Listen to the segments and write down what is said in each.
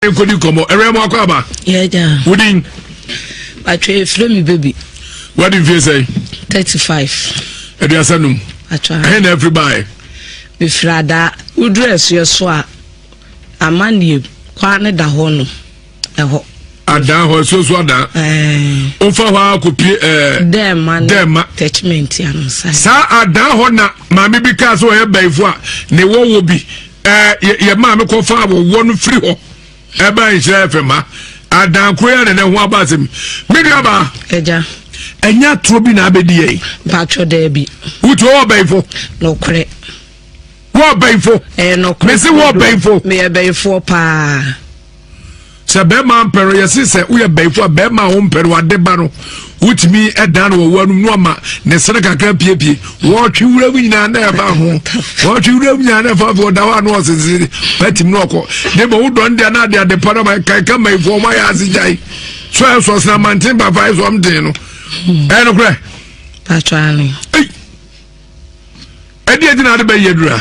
nkɔdi nkɔmmɔ ɛwɛ mu akɔ aba wodin atwa ɛfrɛ me baby wadi mfie sɛ 35 aduasa num ɛhe na afiri baɛ mefiri adaa woduru asuɛ so a amanneɛ kwaa ne da hɔ no ɛhɔ adaa hɔ asuɛ so adaa wofa hɔ a kɔpie dɛma saa adaa hɔ na maame bi kaa sɛ ɔyɛ baifo a ne wɔwɔ bi ɛɛ yɛ maame kɔfa awɔwɔ no firi hɔ ɛbaa nhyira fm ha adankoro yɛ nana ho aba asɛm me nua baa ɛgya ɛnyɛ atorɔ bi na abɛdi yɛn baatwɔ dɛɛ bi wotu ɔwɔ bɛyifo nokorɛ wɔ bɛyifo ɛɛ nokorɛ mesi wɔ bɛyifo meyɛ bɛyifoɔ paa sɛ bɛrima mpɛ no yɛse sɛ woyɛ bɛyifo a bɛrima a wompɛ no wade ba no wotumi dan no wɔwɔ anum no ama ne sene kakra piepie wɔtwe wura mu nyinaa na ɛba ho wɔtwe wura mu nyinaa na ɛfa afei ɔda hɔ a na ɔsensene patim na ɔkɔ ne bɛ wo dɔn deɛ na ade ade pa no ma ɛkaeka mayifo ɔma yɛ ase gyae so ɛ so ɔsena manten ba fa ɛsɔm den no ɛyɛ no korɛ ɛdeɛ gyina ade bɛyɛ dura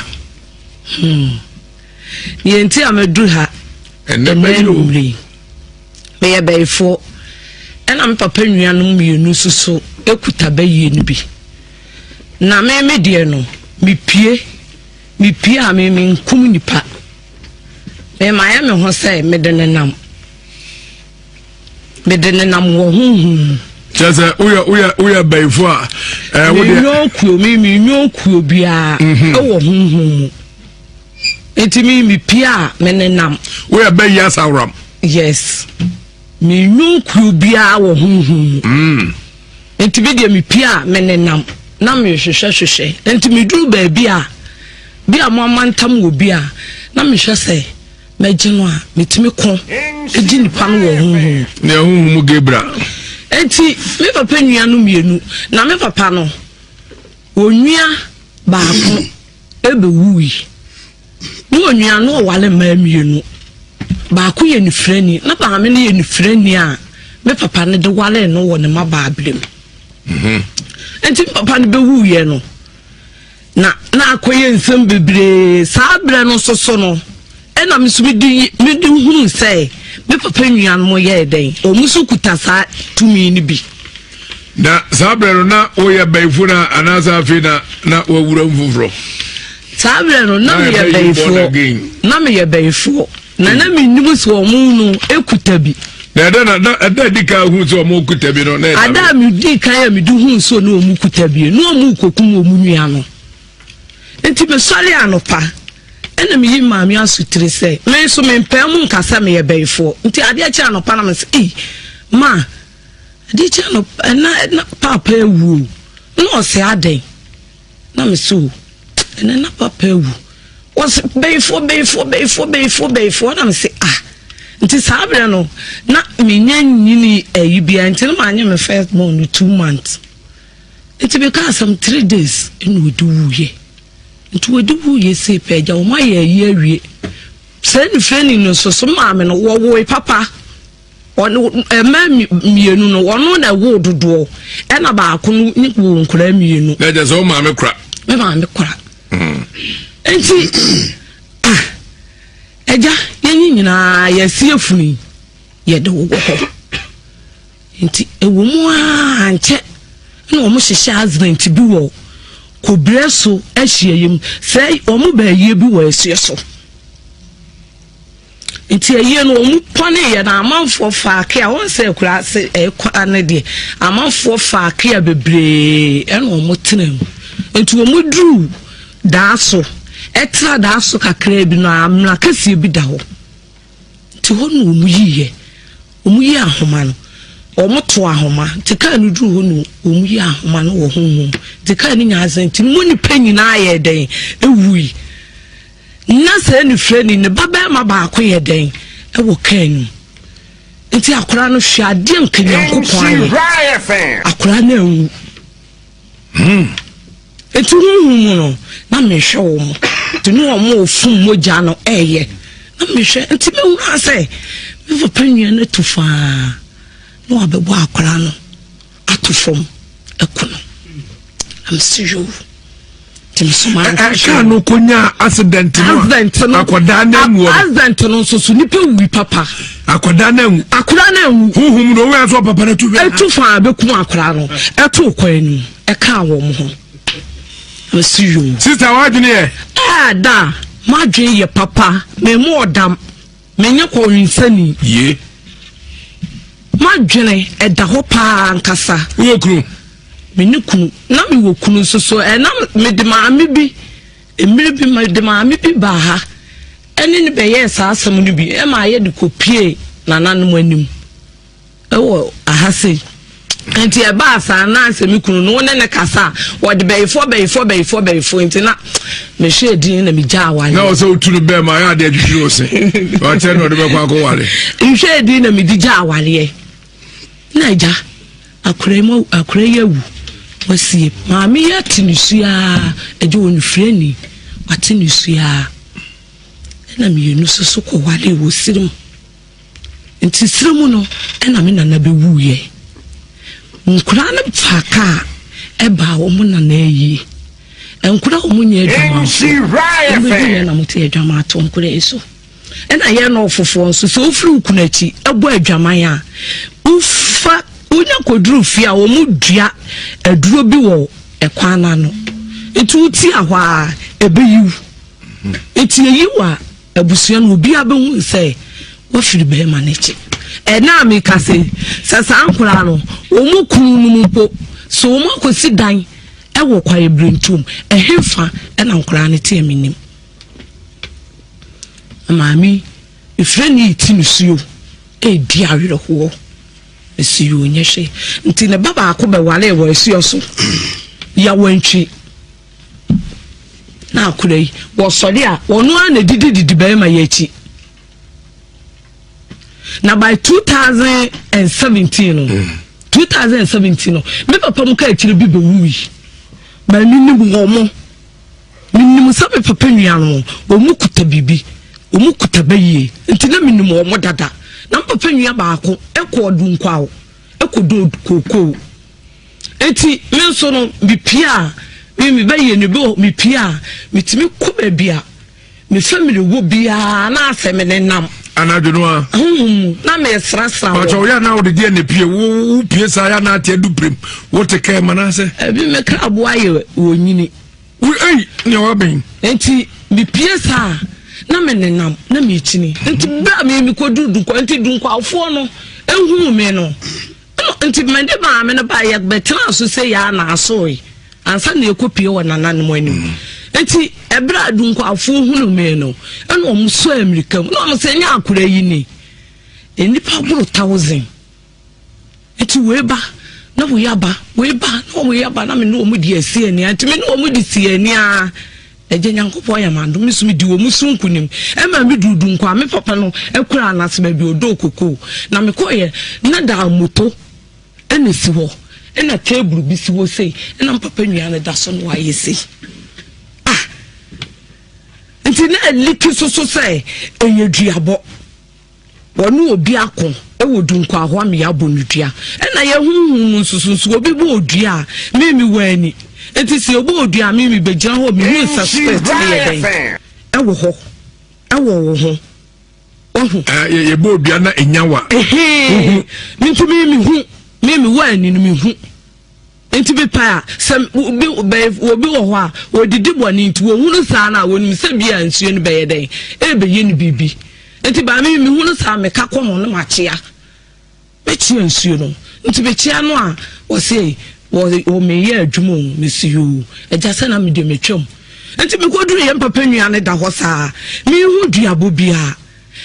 hmm. Deɛ nti a maduru ha ɛnɛ anwummere yi meyɛ bɛyifoɔ ɛna me papa nnuanom mmienu nso so kuta bɛyie no bi na me me deɛ no mepie mepie a me menkum nipa memayɛ me ho sɛ mede ne nam mede ne nam wɔ honhom mu kyerɛ sɛ woyɛ woyɛ woyɛ bɛyifoɔ a ɛɛ wodeɛ menyɔnkuo me menyɔnkuo biara mhm. ɛwɔ honhom mu nti mi mi pia a mi nenam. wo yɛ bɛyi asawuram. yes mi nyu kuru biara wɔ huhu mu. Mm. nti mi deɛ mi pia a mi nenam na mi hwehwɛ hwehwɛ nti mi duru baabi a bi a mo amantam wɔ bi a na mi hwɛ sɛ mɛ gye no a mi ti mi ko egye nipa no wɔ huhu mu. ne huhu mu gebra. nti mi papa nua no mienu na mi papa no wɔ nua baako. Ebewui. Mowɔ onua no ɔware mmaa mmienu. Baako yɛ nifirani. Na maame no yɛ nifirani a me papa no de waree no wɔ ne mmabaa bere mu. Mhm. Nti me papa no bɛwuiɛ no, na na akɔyɛ nsɛm bebree. Saa berɛ no nso so no, Ɛna me nso mede mede hunu sɛ me papa nuanom yɛɛ dɛn wɔn nso kuta saa tumi no bi. na saa berɛ no na woyɛ bɛyifo no a anaasɛ afei na na wawura mu foforɔ saa berɛ no na meyɛ bɛyifoɔ na meyɛ bɛyifoɔ na na menim sɛ ɔmo no ɛkuta bi na ɛdɛ na na ɛdɛ di kan hu sɛ ɔmo kuta bi no na ɛda ada a medi kan a medi hu sɛ ɔne ɔmo kuta bi na ɔmo kɔkum ɔmo nua no Enti mesɔre anɔpa ɛna meyi maame asotiri sɛ me nso mempaa mu nka sɛ meyɛ bɛyifoɔ nti adeɛ kyɛ anɔpa na mesɛ ei ma adeɛ kyɛ anɔpa ɛna ɛna paapa awu o na ɔsɛ adɛn na mesɛ o ɛna na paapa awu wɔsɛ bɛyifoɔ bɛyifoɔ bɛyifoɔ bɛyifoɔ bɛyifoɔ na mesɛ ah nti saa berɛ no na menya nyini ayi bia nti no ma anyɛ me first born no two months Nti me kaa asɛm three days ɛna ɔde wuiɛ nti ɔde wuiɛ sei pɛ agya wɔn ayɛ ayi awie sɛ ne fɛni no nso so maame no wɔwoe papa ɛmɛ mmienu no wɔn na ɛwo dodoɔ ɛna baako no ne wɔ nkora mmienu. na ɛgya sɛ wɔn maame kora. me maame kora. Hmm. nti ah ɛgya yɛn nyinaa yɛsi efunu yɛde wɔ hɔ. Enti ɛwɔ mu ara a, ankyɛ na wɔhyehyɛɛ Advent bi wɔ Kobire so ahyiaeɛ mu. Sɛ wɔba ayie bi wɔ asuo so. Nti ayie no wɔpɔneeɛ na amanfoɔ faa kea wɔn sɛ akura ase ɛkora no deɛ amanfoɔ faa kea bebree ɛna wɔtena mu. Nti wɔduru daa so ɛtra daa so kakraa bi no amena kɛseɛ bi da hɔ. Te hɔ no wɔn yii yɛ wɔn yii ahoma no wɔn to ahoma nti kaa no duru hɔ no wɔn yii ahoma no wɔ honhom nti kaa no nyaa asɛn nti mo nipa nyinaa yɛ dɛn ewui na sɛ ne fira ni ne ba bɛrima baako yɛ dɛn ɛwɔ kaa no nti akora no hwɛ adeɛ nka nyankopɔn ayɛ akora no anwu Hmm. Eti huhu mu no, na mehwɛ wɔn. Te ne wɔn a wɔfum mogya no ɛyɛ. Na mehwɛ, nti mehunaa sɛ me papa nnua no atu faa na wabɛbɔ akwaraa no ato fam ɛko no. Na mese yoo. ɛkaa no kɔnyaa accident no a akɔdaa no anwuɔ accident no nso so nipa wui papa akɔdaa no anwu akɔdaa no anwu huhum no ɔwɛ so papa no atu fɛ atu fa abɛkum akɔdaa no ɛto kɔ anim ɛkaa wɔn ho ɛsi yom sista wadwene yɛ ɛda madwene yɛ papa mɛmu ɔdam Menyɛ kɔwensani. Ye. M'adwene ɛda hɔ paa ankasa. Wowɔ kunu? Me ne kunu. Na mewɔ kunu nso so. Ɛ na mede maame bi, mmere bi mede maame bi baa ha. Ɛne no bɛyɛɛ saa asɛm no bi. Ɛma yɛde kɔpuee nananom anim. ɛwɔ aha sei nti ɛbaa saa na sɛ me kunu no wo ne ne kasa a wɔde bɛyifoɔ bɛyifoɔ bɛyifoɔ bɛyifoɔ nti na mehwɛ ɛdin na megya awale na ɔsɛ wotu no bɛɛ ma ayɛ adeɛ adwidwiri wo se ɔkyɛ na ɔde bɛkɔ akɔ wale nhwɛ ɛdin na mede gya awaleɛ na agya akora mu akora yi awu wasie maame yi ate ne suaa agya wɔ nefiri ani wate ne suaa ɛna mmienu soso kɔ wale wɔ siri mu Nti serɛ mu no na me nana bɛwuiɛ. Nkoraa no faa kaa baa wɔn nana ayie. Nkoraa a wɔnyɛ adwamanfoɔ, wɔbɛduru yɛn na mote adwaman ato nkoraa yi so. Ɛna yɛn nɔɔfofoɔ nso, sɛ wofiri wo kunu akyi bɔ adwaman a, wofa wonya kɔduru fie a wɔdua aduro bi wɔ ɛkwan no ano. Nti wotia hɔ a, ɛbɛyiw. Nti ɛyiw a. Abusua no obiara bɛhu no sɛ wafiri bɛrima no akyi. Ɛna a meka sɛ sɛ saa nkoraa no wɔn kunu no mu mpo sɛ wɔn akɔsi dan wɔ kwaeɛ birentuom ɛhefa ɛna nkoraa no teɛ menim. Maame ɛfiri ne ɛti no suo ɛredi awerɛhoɔ ɛsi yɛ onyɛ hwɛ nti ne ba baako bɛware wɔ ɛsuo so yawantwi. na akora yi wɔsɔre a wɔn ara na ɛdidi didi barima yɛ akyi na by 2017 no 2017 no me papa mu ka akyire bi bɛwu yi ma menim wɔn mo menim sɛ me papa nua no wɔn kuta biribi wɔn kuta bɛyie nti na menim wɔn dada na me papa nua baako ɛkɔɔ dunkwaw Ɛkɔdɔɔ kookoo. Enti me nso no, mepue a, me mebɛyɛ no bi wɔ hɔ, mepue a, metumi kɔ baabi a me family wɔ biara na afei me nenam. Anadwo no a. Honhom mu na mesrasra wɔn. Ɔkyɛ ɔyɛ na ɔde deɛ na pue wo wo pue saa ya na ate adu pirim wote kɛɛ ma na sɛ. Ebi me kraboa yɛ wɔnyini. Wo ei, nea wabɛn. Nti mepue saa na menenam na mekyini nti bere a me mekɔduru dunkwa nti dunkwafoɔ no ɛhuu me no nti mede maame no baa yɛbɛtena so sɛ yɛa na asoe ansa na yɛkɔpie wɔ nananom anim mm. nti ɛberɛ a dunkwafoɔ hunu me no ɛna ɔmo so amirika mu na ɔmo sɛ nyɛ akora yi ni nnipa boro thousand Enti wei ba na wei aba, wei ba na wei aba na me ne wɔn di asi ani ara. Nti me ne wɔn di si ani ara. Agya Nyankopɔn yɛ m'adom, me nso medi wɔn so nkonim. Ɛma me duru Dunkwa a, me papa no kura no ase baabi ɔdɔɔ kokoo. Na mekɔeɛ na daa moto ɛna ɛsi hɔ, ɛna table bi si hɔ sei, ɛna me papa nua no da so na wayɛ sei. Ah! Nti na aliki soso sɛ ɛyɛ duabɔ. Wɔne obi ako wɔ du nkwahoa mmea abɔ no dua. Ɛna yɛ honhom mu nsusunsu obi bɔ odua a mimi wɔ ani. Enti sɛ yɛbɔ odua a mimi bɛgyina hɔ mehu nsa spɛt ne yɛ dɛn ɛwɔ hɔ ɛwɔ wo ho. Wahu? Yɛbɔ odua na ɛnyawa. Ɛhee. Nti mimi hu mimi wɔ ani no mehu. Nti mepae a, sɛ obi bɛn, obi wɔ hɔ a, ɔdidi bɔne nti, wɔhunu saa no a, wɔnim sɛ bi a nsuo no bɛyɛ dɛn? Ɛrebɛyɛ no biribi. Nti baa me, mehunu saa, meka kɔ ho na makyea. Mɛkyea nsuo no. Nti mekyea no a, wɔse, wɔ, wɔ meyɛ adwuma o, mese yoo, agya sɛ na medeɛ metwam. Nti mekɔduru yɛn papa nua no da hɔ saa, menhu duabɔ biara.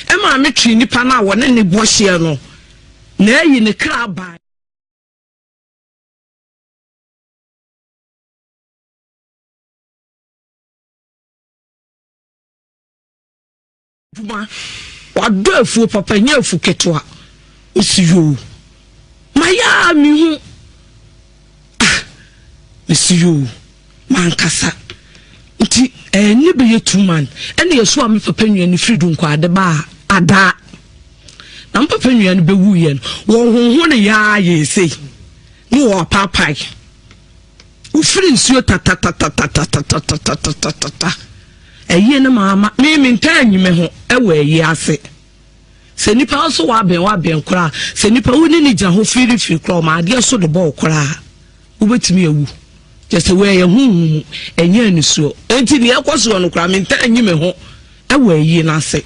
Ɛmaa metwee nipa no a wɔne ne bɔ hyeɛ no, na ayi ne kra bae. adwuma wadɔ afuo papa nyɛ afu ketewa osi yoo mayɛ a mehu ah mesi yoo Mankasa nti ɛɛ ne bɛyɛ two month ɛna yɛso a me papa nua no firi Dunkwa ade baa Adaa. Na me papa nua no bɛwuiɛ no wɔhoho ne yɛa yɛɛ sei ne wɔapaapae. Wofiri nsuo tatatatatatatatatatatatata. Ɛyie no maa ma me mentaa nyi me ho ɛwɔ ɛyie ase. Sɛ nipa nso wabɛn wabɛn koraa sɛ nipa wo ne ne gyina hɔ firifiri koraa ɔma adeɛ so de bɔɔ koraa. Wobɛtumi awu. Kyerɛ sɛ wei ɛyɛ honhom mu, ɛnyɛ anisoɔ. Enti deɛ ɛrekɔ soɔ no koraa, mentaa nyi me ho wɔ ayie no ase.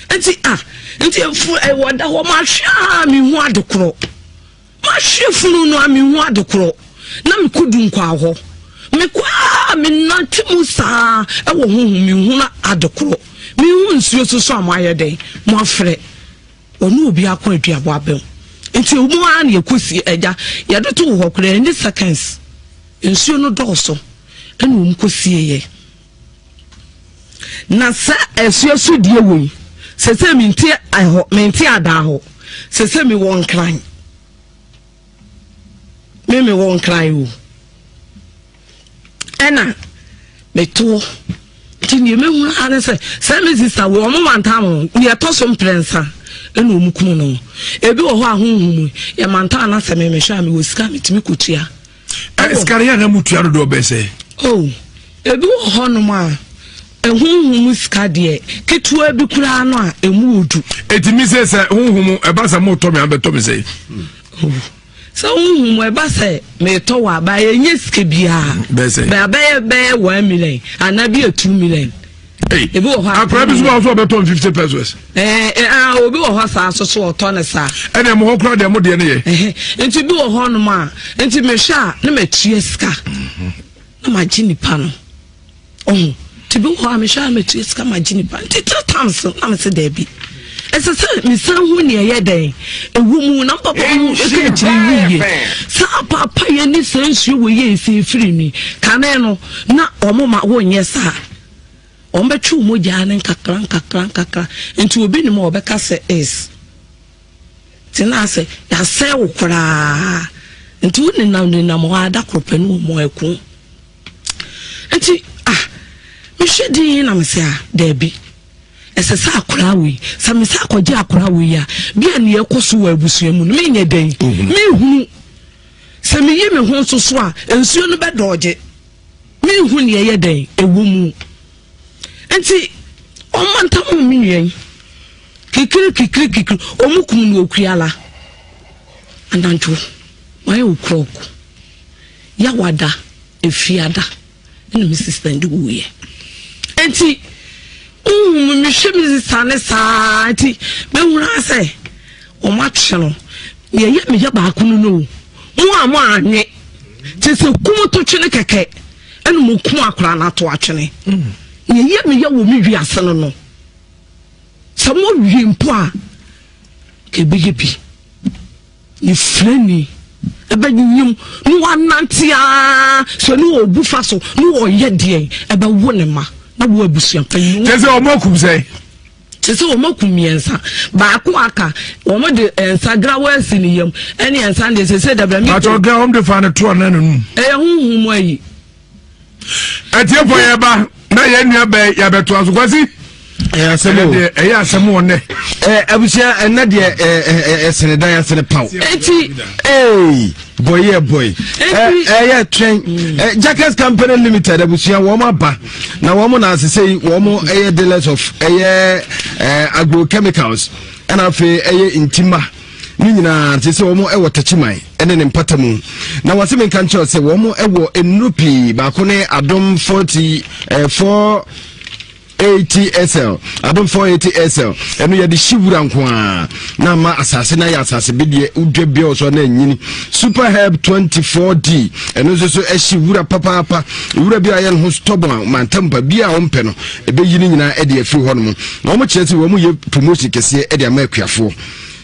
Enti a, enti efu ɛwɔ eh, da hɔ mahwe a mehu ade korɔ. Mahwe funu no a mehu ade korɔ. Na mekɔ du nkwaa hɔ. Mekɔ a menante mu saa ɛwɔ honhom mehu na ade korɔ. Mehu nsuo soso a moayɛ dɛn, moafrɛ. Wɔne obi akɔ aduabo abɛn. Nti ɛwɔ mu ara na yɛkɔsi agya. Yɛde too hɔ koraa ɛnyɛ seconds. Nsuo no dɔɔso ɛna wɔn kɔsie yɛ. Na saa asuo so deɛ wɔ yi, sɛsɛ mente ɛhɔ, mente adaa hɔ, sɛsɛ mewɔ Nkran. me me wɔ nkran o ɛna meto nti deɛ mɛhunu ara ne sɛ sɛ me sista wei ɔmo mantam o deɛ ɛtɔ so mprɛnsa ɛna ɔmo kunu no ebi wɔ hɔ a honhom yɛmantam anasɛ me mehwɛ a mewɔ sika metumi kɔtua ɛsikare yɛ na mutua dodoɔ bɛsɛ oh Ebi wɔ hɔnom a, honhom mu sika deɛ, ketewa bi koraa no a, emu wɔ du. Eti mi se sɛ honhom ɛba sɛ mo tɔ mi abɛtɔ mi sɛ. Sɛ honhom ɛba sɛ metɔ wɔ aba yɛ nye sika biara. Bɛsɛ. Bɛ abɛyɛ bɛyɛ one million ana bi yɛ two million. Ebi wɔ hɔ a. Akora bi so wɔ so ɔbɛtɔ n fifty pesos. Ɛɛ ɛɛ obi wɔ hɔ saa soso ɔtɔ ne saa. Ɛna ɛmu hɔ kura deɛ mo deɛ ne yɛ. Nti bi wɔ hɔ nom a nti mehwɛ a ne ma tia sika. na magye nipa no ɔho nti bi wɔ hɔ a mehwɛ a metua sika magye nipa nti three times no na mese daabi ɛsɛ sɛ mesan hu nea ɛyɛ dɛn ɛwɔ mu na mpapa mu ɛka akyiri wuye saa papa yɛ ne saa nsuo wɔ yɛ ɛsɛ ɛfiri mi kane no na ɔmo ma wonyɛ saa ɔmo bɛtwe ɔmo gyaa ne nkakra nkakra nkakra nti obi nim a ɔbɛka sɛ is Tena ase, yɛasɛe wo koraa. Nti wo nenam nenam hɔ ara da koro pɛ ne wɔn mu ɛko. Nti ah, me hwɛ din yi na me sɛ ah, daabi. Ɛsɛ sɛ akoraa wei, sɛ me sɛ akɔgye akoraa wei a, bi a nea ɛkɔ so wɔ abusua mu no, me nyɛ dɛn, me hunu. Sɛ me yi me ho nso so a, nsuo no bɛ dɔɔgye. Me hu nea ɛyɛ dɛn, ɛwɔ mu. Nti ɔma ntam ɔmo nwɛn. Kikiri kikiri kikiri ɔmo kum no okuala. Anadwo mayɛ okurɔk. Yawada efiada ɛna me sista ndi wuiɛ. Nti wohu me mehwɛ me sista ne saa nti mehunu asɛ ɔmo akye no. Yɛyɛ meyɛ baako no no. Mo a mo anwe. Kyɛ sɛ kum to twe ne kɛkɛ. ɛna mo ko akora no ato atwene na ɛyɛ me yɛ wɔ me wiase no no sɛ mo wie mpo a ɛbɛyɛ bi ne firani ɛbɛnyim ne wanante a sɛ ne ɔbu fa so ne ɔyɛ deɛ ɛbɛwo ne ma na wo abusua kyɛ sɛ ɔmɔ akum sɛ Kyerɛ sɛ wɔakum mmiɛnsa. Baako a aka, wɔde nsa grawa asi ne yam ne nsa no deɛ sese dabra mi. Pàtó gra wɔn de fa ne to ɔnan n'anum. Ɛyɛ huhu mu ayi. Atiefo yɛ ba na yɛn nua bɛn yabɛto aso kwasi. Ɛyɛ asɛm o. Ɛyɛ asɛm wɔ nɛ. Ɛɛ abusua ɛnɛ deɛ ɛɛ ɛsɛnɛ dan ɛsɛnɛ paw. Eti ee. boy yɛ boy ɛyɛ twɛn jackets company limited abusua wɔn aba na wɔn na asese yi wɔn ɛyɛ dealers of ɛyɛ agrochemicals ɛna afei ɛyɛ ntima ne nyinaa te sɛ wɔn wɔ takyiman ne ne mpata mu na wɔn asɛm nka nkyɛn sɛ wɔn wɔ nnuro pii baako ne adom forty ɛɛ four. eighty sl adom four eighty sl ɛno yɛde hye wura nko a na ama asase no ayɛ asase bedeɛ wodwa bia wɔ so na anyini super herb twenty four d ɛno nso so ɛhye wura papaapa wura bi a yɛ no ho stɔbɔ a mantam pa bi a wɔmpɛ no ɛbɛyi no nyinaa ɛde afiri hɔ no mu na wɔn kyerɛ sɛ wɔn yɛ promotion kɛseɛ ɛde ama akuafoɔ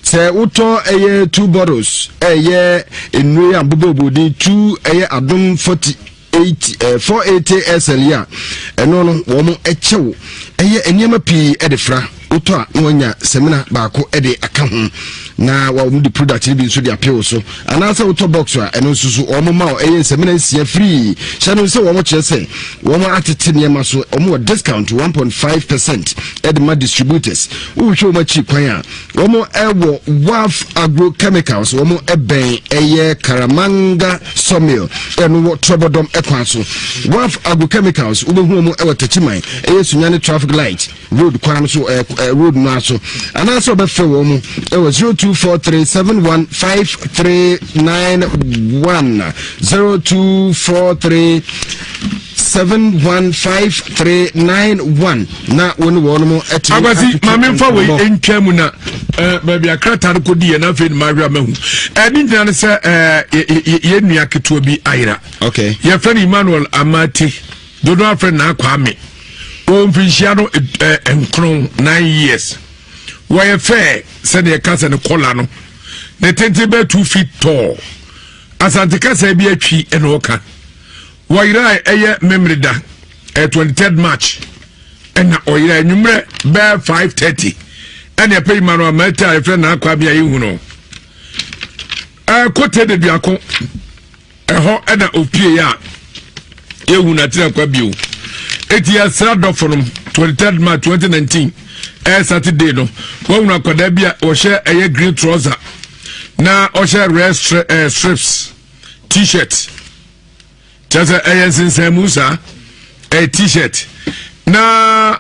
sɛ wotɔ ɛyɛ two bottles ɛyɛ nnuro yɛ abobɔbɔden two ɛyɛ adom forty eight ɛɛ eh, four eighty sl yi a ɛno no wɔn kyɛ wo ɛyɛ nneɛma pii ɛde fra wotɔ a na wɔnya sɛmina baako ɛde aka ho na wɔn de product no bi nso de apɛw so anaasɛ wotɔ box a ɛno nso so wɔn ma ɛyɛ sɛmina nsia free hyɛ no sɛ wɔn kyerɛ sɛ wɔn atete nneɛma so wɔn wɔ discount one point five percent ɛde ma distributors wohwɛ wɔn akyi kwan a. Wɔn wɔ WAF Agro Chemicals, wɔn bɛn ɛyɛ Karamanga Sawmill ɛno wɔ Trɔbɔdɔm kwan so. WAF Agro Chemicals wobɛhu wɔn wɔ Takyiman ɛyɛ Sunyani Traffic Light Road kwan no so ɛɛ road no aso anaasɛ wɔbɛfrɛ wɔn ɛwɔ zero two four three seven one five three nine one zero two four three seven one five three nine one. na wo ne wɔn mo ɛte akwasi maame nfa wei ntwa mu na ɛɛ baabi akrata no kodi yɛ n'afɛ numu ahwɛ ama hu ɛni nyina no sɛ ɛɛ yɛ yɛ nua ketewa bi ayira okay yɛfɛ no emmanuel amate dodo afɛ na akɔ ame wɔn mfinhyia no ɛɛ eh, nkron nine years wɔyɛ fɛ sɛdeɛ kasa no kɔla no ne tenten bɛ two feet tall asante kasa bi atwi ɛna ɔka wɔyira ɛyɛ memerida. ɛyɛ twenty third march ɛna ɔyera enyimrɛ bɛɛ five thirty ɛna ɛpɛ yi ma no ama ɛte a yɛfrɛ na akɔ abia yi hu no ɛɛ kote de duako ɛhɔ ɛna opie yɛ a yɛhu na tena kwa bio eti yɛsra dɔfo nom twenty third march twenty nineteen ɛyɛ saturday no wɔhunu akwadaa bi a ɔhyɛ ɛyɛ green trouser na ɔhyɛ red stri ɛɛ strips t-shirt. kyɛ sɛ ɛyɛ nsensɛnmu saa ɛyɛ t-shirt na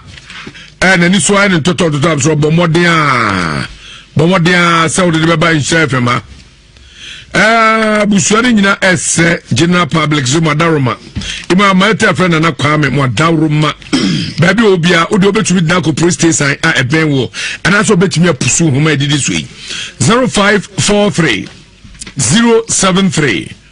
ɛyɛ n'ani so ayɛ ne ntɔtɔntɔtɔ a sɛ ɔbɔ mmɔden a bɔ mmɔden a sɛ wode de bɛba nhyɛ fam a Eh, abusua no nyina ɛsɛ general public so madaroma ima maɛtɛ frɛ nana kwame madaroma baabi a obia wode wobɛtumi dena kɔ police station a ah, ɛbɛn wɔ anaasɛ wobɛtumi apusu nhoma ɛdidi so yi 0543 073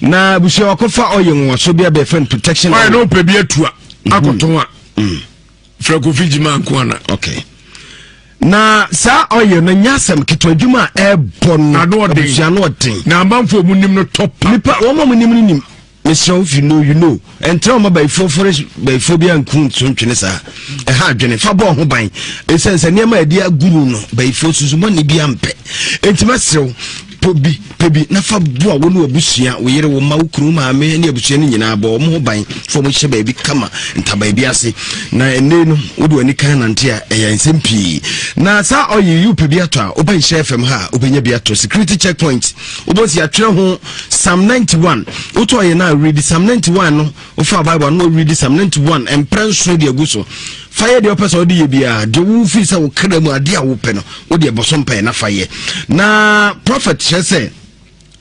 na abusua wakɔfa ɔyɛ nwaso bi abɛɛfɛ no protection ɔyɛ na ɔpɛ bi atua mhm. akɔtɔn a mhm. frɛ kofi gyima nko ana okay na saa ɔyɛ no nyɛ asɛm ketewa adwuma a ɛbɔ no abusua no ɔden na amanfoɔ mu nim no tɔ pa nipa wɔn a wɔn nim no nim mesrɛ wo fi no you know ɛntra ɔma bayifoɔ fɔre bayifoɔ bi anku nso ntwene saa ɛha adwene fa bɔɔ ho ban ɛsiane sɛ nneɛma a ɛde aguru no bayifoɔ susu bɔne bi ampɛ enti mɛserɛw pɔ bi pɛ bi na fa boa wo ne wabusua wo yere wo ma wo kunu maame ne abusua no nyinaa bɔ wɔn ho ban fam hyɛ baabi kama ntabaa bi ase na ɛnne no wode w'ani kan nante a ɛyɛ nsɛm pii na saa ɔyɛ yi wopɛ bi atɔ a wobɛnhyɛ fam ha a wobɛnya bi atɔ security checkpoint wobɛsi atwerɛ ho psalm ninety one wotu ɔyɛ na awuridi psalm ninety one no wofa bible ano awuridi psalm ninety one mpere nson de agu so fa yɛ deɛ ɔpɛ sɛ ɔde yɛ biara deɛ wofi sɛ wokra mu adeɛ a wopɛ no wode ɛbɔ so mpaeɛ na fa yɛ na prophet kyerɛ sɛ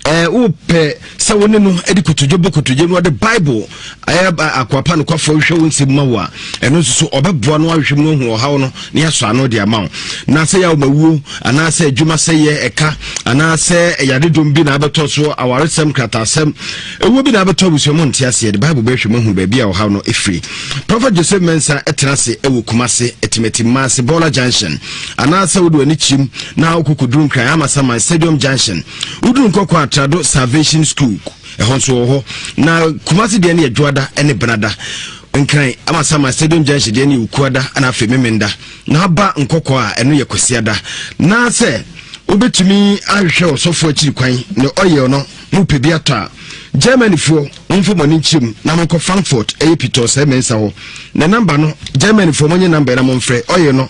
ɛɛ wopɛ sɛ wo ne no de kotodwe bɔ kotodwe no ɔde bible ayɛ akoa pa nokwafo hwɛ wo nsɛm ma wo a ɛno nso so ɔbɛboa no ahwɛ mu ahu ɔhaw no ne asɔ ano de ama wo na sɛ yɛ awomawuo anaasɛ adwuma sɛ yɛ ɛka anaasɛ yadedom bi na abɛtɔ so awaresɛm kratasɛm ɛwuo bi na abɛtɔ abusua mu nte aseɛ de bible bɛhwɛ mu ahu baabi a ɔhaw no ɛfiri prophet joseph mensa ɛtena ase ɛwɔ kuma se ɛtimati ma ase bɔla junction anaasɛ wode w'ani kyim na wokɔkɔduru nkran amasaman stadium junction woduru nkɔkɔ atrado salvation school ɛhɔ nso wɔ hɔ na kumase deɛ no yɛ dwoada ne benada nkran ama sama stadium junction deɛ no yɛ ukuada na afei memenda na aba nkɔkɔ a ɛno yɛ kwasiada na sɛ wobɛtumi ahwehwɛ ɔsɔfoɔ akyiri kwan ne ɔyɛ no mo pɛ bi atɔ a germanyfoɔ momfa mɔne nkyerɛm na monkɔ frankfurt ɛyɛ pitɔ sɛ mensa hɔ na namba no germanyfoɔ mɔnyɛ namba na momfrɛ ɔyɛ no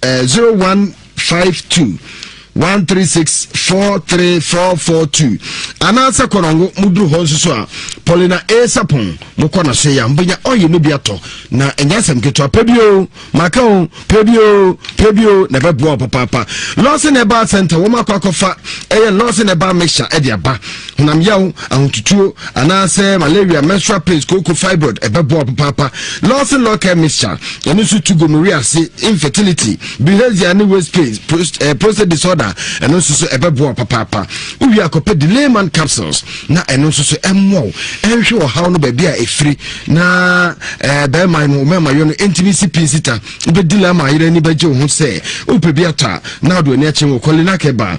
Eh, zero one five two one three six four three four four two anaasɛ kɔnɔngo mu duru hɔ nso so a paulina a sapon mo kɔ na so yɛ a mo bɛnya ɔyɛ no bi atɔ na ɛnyɛ asɛm ketewa pɛ bi o maka o pɛ bi o pɛ bi o na ɛbɛboa o papaapa lɔɔse na ɛba center wɔn akɔ akɔfa ɛyɛ lɔɔse na ɛba mixture ɛde aba honam yaw ahotutuo anaasɛ malaria menstrual pains kooko fibroid ɛbɛboa papaapa lawson law care mixture ɛno nso tu gonorrhea ase infertility bilharzia ne waist pains prost, eh, prostate disorder ɛno nso so ɛbɛboa papaapa wowie akɔpɛ delayman capsules na ɛno nso so ɛmmoa wo ɛnhwɛ ɔhaw no baabi a ɛfiri na eh, bɛrima no mɛmayɔ no ɛntumi si pii sita wobɛdi lama yerɛ ani bɛgye wo ho sɛ wopɛ bi atɔ a na wode w'ani akyɛ wɔ kɔlina kɛba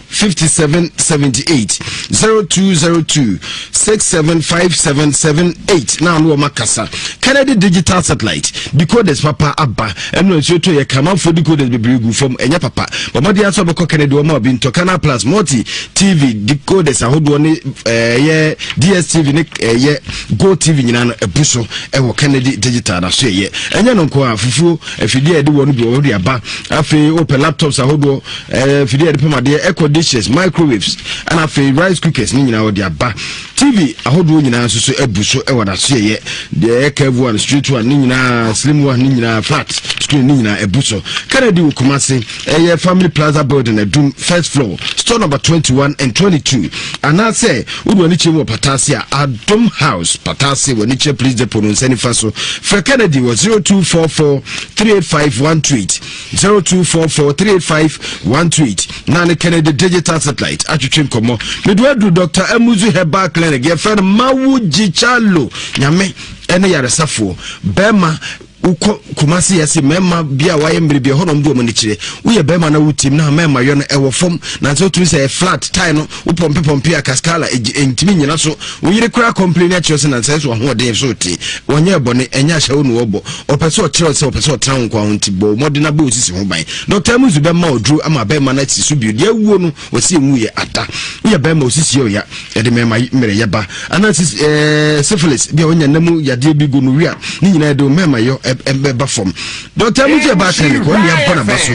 5778 0202 675778 na ano wɔn akasa kennedy digital satellite decoders papa aba ɛnu nsuo to yɛ kamanfo decoders bebree gu fam ɛnyɛ papa bɔmɔden aso bɛkɔ kennedy wɔn a obi ntɔ canal plus multi tv decoders ahodoɔ ne ɛyɛ dstv ne ɛyɛ go tv nyinaa no ɛbu so ɛwɔ kennedy digital na so ɛyɛ ɛnyɛ no nko a fufuo afidie a yɛde wɔn bi wɔn de aba afei wɔpɛ laptops ahodoɔ ɛɛ eh, fidie yɛde pam adeɛ ɛkɔ dishes microwaves ɛna afei rice cookers ne nyinaa wɔde aba tv ahodoɔ nyinaa nso so abu so ɛwɔ n'aso yɛyɛ deɛ ɛyɛ curve one straight one ne nyinaa slim one ne nyinaa flat screen ne nyinaa abu so kennedy wɔ kumase ɛyɛ family plaza building adum first floor store number twenty one and twenty two anaasɛ wodu ani kyerɛ mu wɔ pataase a adum house pataase wɔ ani kyerɛ police depot no nsa nifa so fɛ kennedy wɔ zero two four four three eight five one two eight. zero two four four three eight five one two eight na ne kɛnɛ de digital satellite atwitwe nkɔmɔ medo adu dr amuzu herbal clinic yɛfrɛ no mawo gyichalo nyame ɛne yaresafoɔ bɛrima wokɔ kumase yɛse mmarima bi a wayɛ mmerɛ bi ɛhɔ nom de ɔmo ani kyerɛ woyɛ bɛrima na wotim na mmarima yɔ no ɛwɔ fam nanso wotumi sɛ flat tie no Wo pɔmpe pɔmpe a Cascala egye entumi nyina so wo yere koraa complain akyerɛ sɛ nansa ɛso ahoɔden so te wɔnyɛ bɔne ɛnyɛ ahyɛwo na wɔbɔ ɔpɛ sɛ ɔkyerɛ sɛ ɔpɛ sɛ ɔtena wo nkoa ho nti bɔ mmɔden abɔ wo sisi ho ban Dr. Amuzu bɛma oduro ama bɛrima no asi so bio deɛ awuo no wɔsi enwu yɛ ada woyɛ bɛrima osisi ɔya ɛde mɛma mmerɛ yɛ ba ana sisi ɛɛ syphilis bi a wɔnya nam yadeɛ bi gu no wia ne nyinaa de mɛma yɔ ɛbɛba fam Dr. Amuzu ɛba atɛn ne kɔ ne abɔ na ba so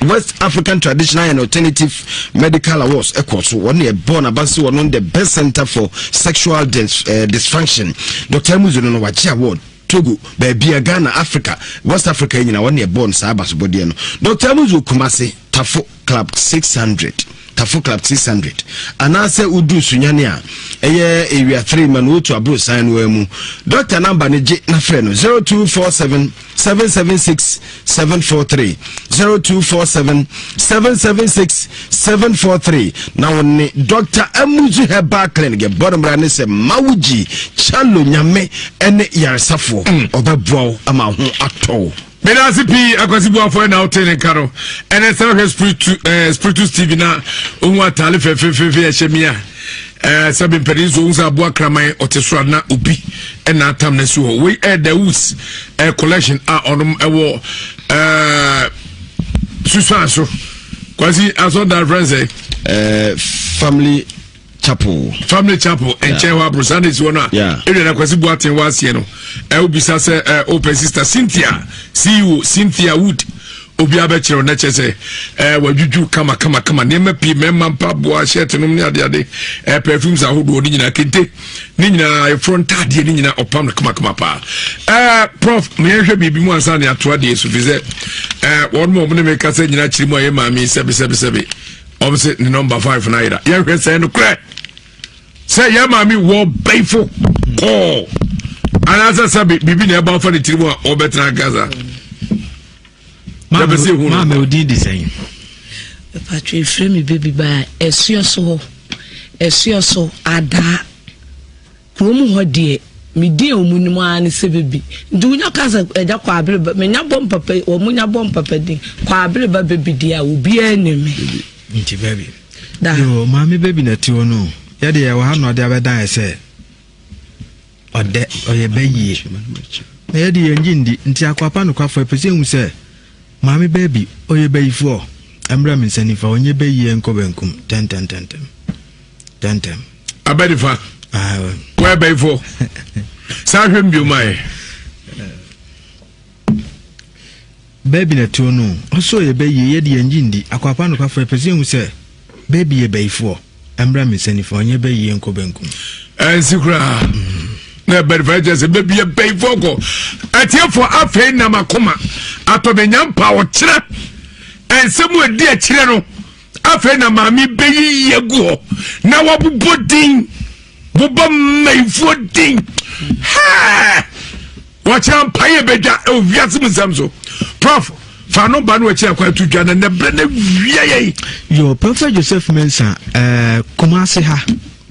west african traditional and alternative medical awards ɛkɔ so wɔn yɛ bɔɔl na basi wɔn the best center for sexual dis, uh, dysfunction dr emuzo no wagye award togo baabi a ghana africa west africa nyina wɔn yɛ bɔɔl saa abasobɔdeɛ no dr emuzo kumase tafo club six hundred tafo club six hundred anaasɛ oduru sunyane a ɛyɛ ewia three ma na otu aburo san no mu dr namba ne gye na frɛ no zero two four seven. seven seven six seven four three zero two four seven seven seven six seven four three na wɔn ne dr amuzu herbal clinic ɛbɔ no mmara ne sɛ mawugyi kyalo nyame ɛne yaresafoɔ mm. ɔbɛboa wo ama ho atɔ wo medase pii akwasi boafoɔ ɛna wote ne nka no ɛnɛ sɛ wohwɛ spiritus eh, tv na ɔhu atale fɛfefefe ɛhyɛ mi a ɛɛ eh, sɛbi mpɛrɛ nso ohun sɛ aboa kraman ɔte soro a na obi ɛna atam na si hɔ wei ɛɛ eh, dawus ɛɛ eh, collection a ɔnom ɛwɔ ɛɛ susan so kwasi asɔnda fɛn sɛ. ɛɛ family chapel. family chapel nkyɛn hɔ aburo sunday si hɔ no a ɛwia na kwasi buaten wɔ aseɛ no ɛwɔ bisa sɛ ɛɛ opɛ sista cynthia ceo cynthia wood. obiara bɛkyerɛ wo na kyerɛ sɛ ɛɛ eh, wadwudwu kama kama kama nneɛma pii mmarima mpaboa shirt nom ne ade ade ɛɛ eh, perfumes ahodoɔ ne nyinaa kente ne nyinaa eforo ntaadeɛ ne nyinaa ɔpam no kama kama paa ɛɛ eh, prof meyɛhwɛ biribi mu ansa ne ato adeɛ so fi sɛ ɛɛ wɔn mu a wɔn ne mi kasa nyinaa kyerɛ mu a yɛ maame sɛbi sɛbi sɛbi wɔn sɛ ne nɔmba five na ayira yɛhwɛ sɛ ɛno korɛ sɛ yɛ maame wɔ bɛyifo kɔɔ anaasɛ sɛbi biribi na ɛba afa ne tiri mu a ɔbɛtena gaza. maame odin de sɛn ɛpatwo ɛfrɛ me baby baa ɛsoɛ so hɔ ɛsoɛ so adaa kurom hɔ deɛ medin a wɔn nim ara ne sɛ bebi nti wonya ka sɛ ɛgya kɔ abere ba menya bɔ mpapa wɔn nya bɔ mpapa din kɔ abere ba bebi deɛ a obiara nim me. nti bebi. da yoo maame bebi na ti hɔ no yɛde yɛ wɔ ha na ɔde abɛdan ɛsɛ. ɔdɛ ɔyɛ bɛ yie na yɛde yɛn gye ndi nti akwapa nokwafo ɛpɛ sɛ ehu sɛ maame bɛɛ bi ɔyɛ bɛyifoɔ ɛmmerɛ me nsa nifa ɔnyɛ bɛ yie nkɔ bɛnkum tɛntɛntɛntɛm tɛntɛm abɛ nifa wɔyɛ bɛyifoɔ saa hwɛ mbiomaɛ Baabi na tuo no ɔsoo yɛ bɛ yie yɛde yɛn gye ndi akwaapa nokwafo yɛpɛ sɛ yɛhu sɛ baabi yɛ bayifoɔ ɛmbra me nsa nifa ɔnyɛ bɛ yie nkɔ benkum ɛnsi koraa na ɛbɛrifɛ kyɛ sɛ baabi yɛ bayifoɔ kɔ atiefo afei nam akoma atɔbɛnya mpa ɔkyerɛ ɛnsɛm a ɛdi akyirɛ no afei na maame bɛyiyi agu hɔ na wabobɔ din bobɔ mmayifoɔ din hɛɛ wɔkyerɛ mpa yɛ bɛdwa ɛwɔ wiase mu nsɛm so prof fa no ba no akyiri akwan to dwa na nnɛ berɛ no awia yɛi yɛ prɔfɛ joseph mensa uh, eh, kumase ha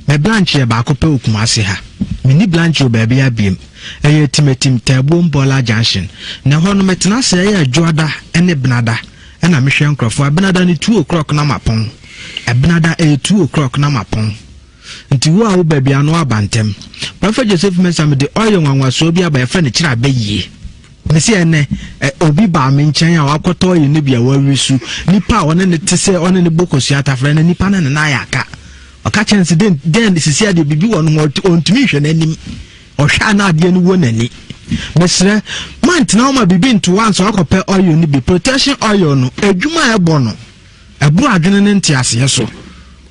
me blanche yɛ baako pɛ wɔ kumase ha menni blanche wɔ baabi abiem ɛyɛ timatim taabuo mbɔla junction na hɔ no metena sɛ ɛyɛ adwoada ne benada Ɛna mehwɛ nkorɔfoɔ abenada no two o'clock na mapɔn abenada ɛyɛ two o'clock na mapɔn nti wo a wo baabi ano aba ntɛm Prophet Joseph Mensah mede oil nwanwasoɔ bi aba yɛfrɛ no kyerɛ abɛ yie mese ɛnɛ ɛ obi baa me nkyɛn a wakɔtɔ oil no bi a wawi su nipa a ɔne ne te sɛ ɔne ne bɔ kosua atafrɛ no nipa no ne nan ayɛ aka ɔka kyerɛ no sɛ dɛn dɛn sisi adeɛ biribi wɔ no ho ɔntumi nhwɛ n'anim ɔhwɛ a na adeɛ no wɔ n'ani mesrɛ mantena hɔ ma biribi nto wo ansa wakɔpɛ oil no bi protection oil no adwuma a ɛbɔ no ɛboro adwene ne nteaseɛ so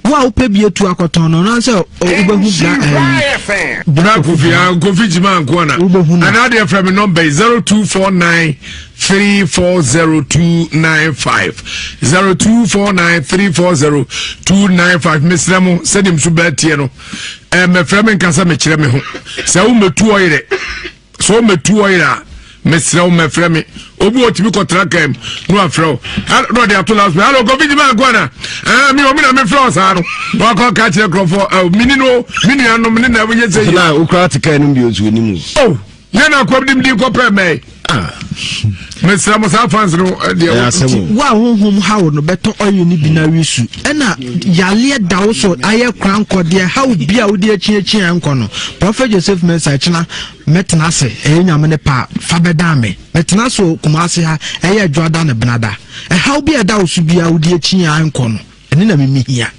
wo a wopɛ bi atu akɔtɔn no ɔno sɛ wobɛhu bra bra kofi a kofi gyima nkoa na anaa deɛ frɛ me nɔmba yi 0249 340295 0249 340295 mesrɛ mo sɛdeɛ m so bɛatiɛ no ɛɛ mɛfrɛ me nkasa mekyerɛ me ho sɛ wo mɛtu ɔyerɛ sɛ wo mɛtu ɔyerɛ a mesrɛ wo mɛfrɛ me obi wɔ tumi kɔtra kaa mu na wafrɛ wo na ɔde ato last minute alo covid ma akɔ ana ɛɛ mi omi na mefrɛ wo saa no na wakɔ ka kyerɛ kurɔfoɔ ɛɛ mini no mi nuanom ne na ɛwɔ yɛ sɛ yi. na okura te kaa no bi otu anim. yɛn na akɔm dim din kɔpɛ mɛɛ. Ah. mesrɛ mo saa fans no eh, deɛ wo a honhom haw no bɛtɔ ɔyɛ no bi no awe su ɛna yaleɛ da wo so ayɛ kora nkɔ deɛ haw bi a wode akyiakyia nkɔ no prɔfɛt joseph mensa kyena mɛtena ase ɛyɛ nyame ne paa fa bɛdan me mɛtena so kuma ase ha ɛyɛ adwoada ne benada ɛhaw bi a ɛda wo so bia wode akyiaa nkɔ no ɛne na memehia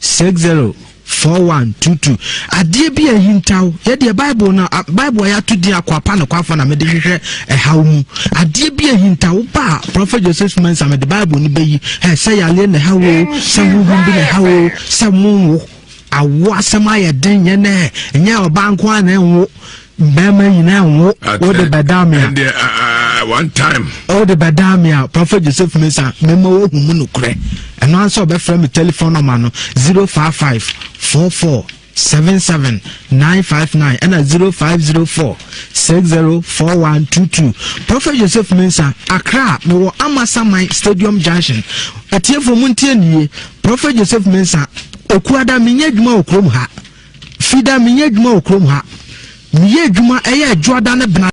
Six zero four one two two adeɛ bi a ahintaw yɛ deɛ bible no a bible a yɛato din akwapa no kwafa na mede hwehwɛ ɛhaw mu adeɛ bi a ahintaw ba a prɔfɛt joseph mensa mede bible no bɛyi ɛ sɛ yareɛ na ɛhaw o sɛ honhom bi na ɛhaw o sɛ monwo awo asɛm ayɛ den nyɛ nɛ nyɛ ɔbaa nko a na ɛnwo Bɛrima nyinaa nwo wode bɛdaa me a. Ɛndeɛ ah, ah, ah, one time. Wode bɛdaa me a Prɔfɛt Joseph Mensah mema woahu mu nokorɛ. Ɛno ara sɛ ɔbɛfrɛ me telefon nɔma no 055 44 77 959 ɛna 0504 604122 Prɔfɛt Joseph Mensah Accra mewɔ Amasaman Stadium Junction atiefo mu ntie nie Prɔfɛt Joseph Mensah Okuada menyɛ adwuma wɔ kurom ha Fida, menyɛ adwuma wɔ kurom ha. Meyɛ adwuma, ɛyɛ adwoada ne benadwo.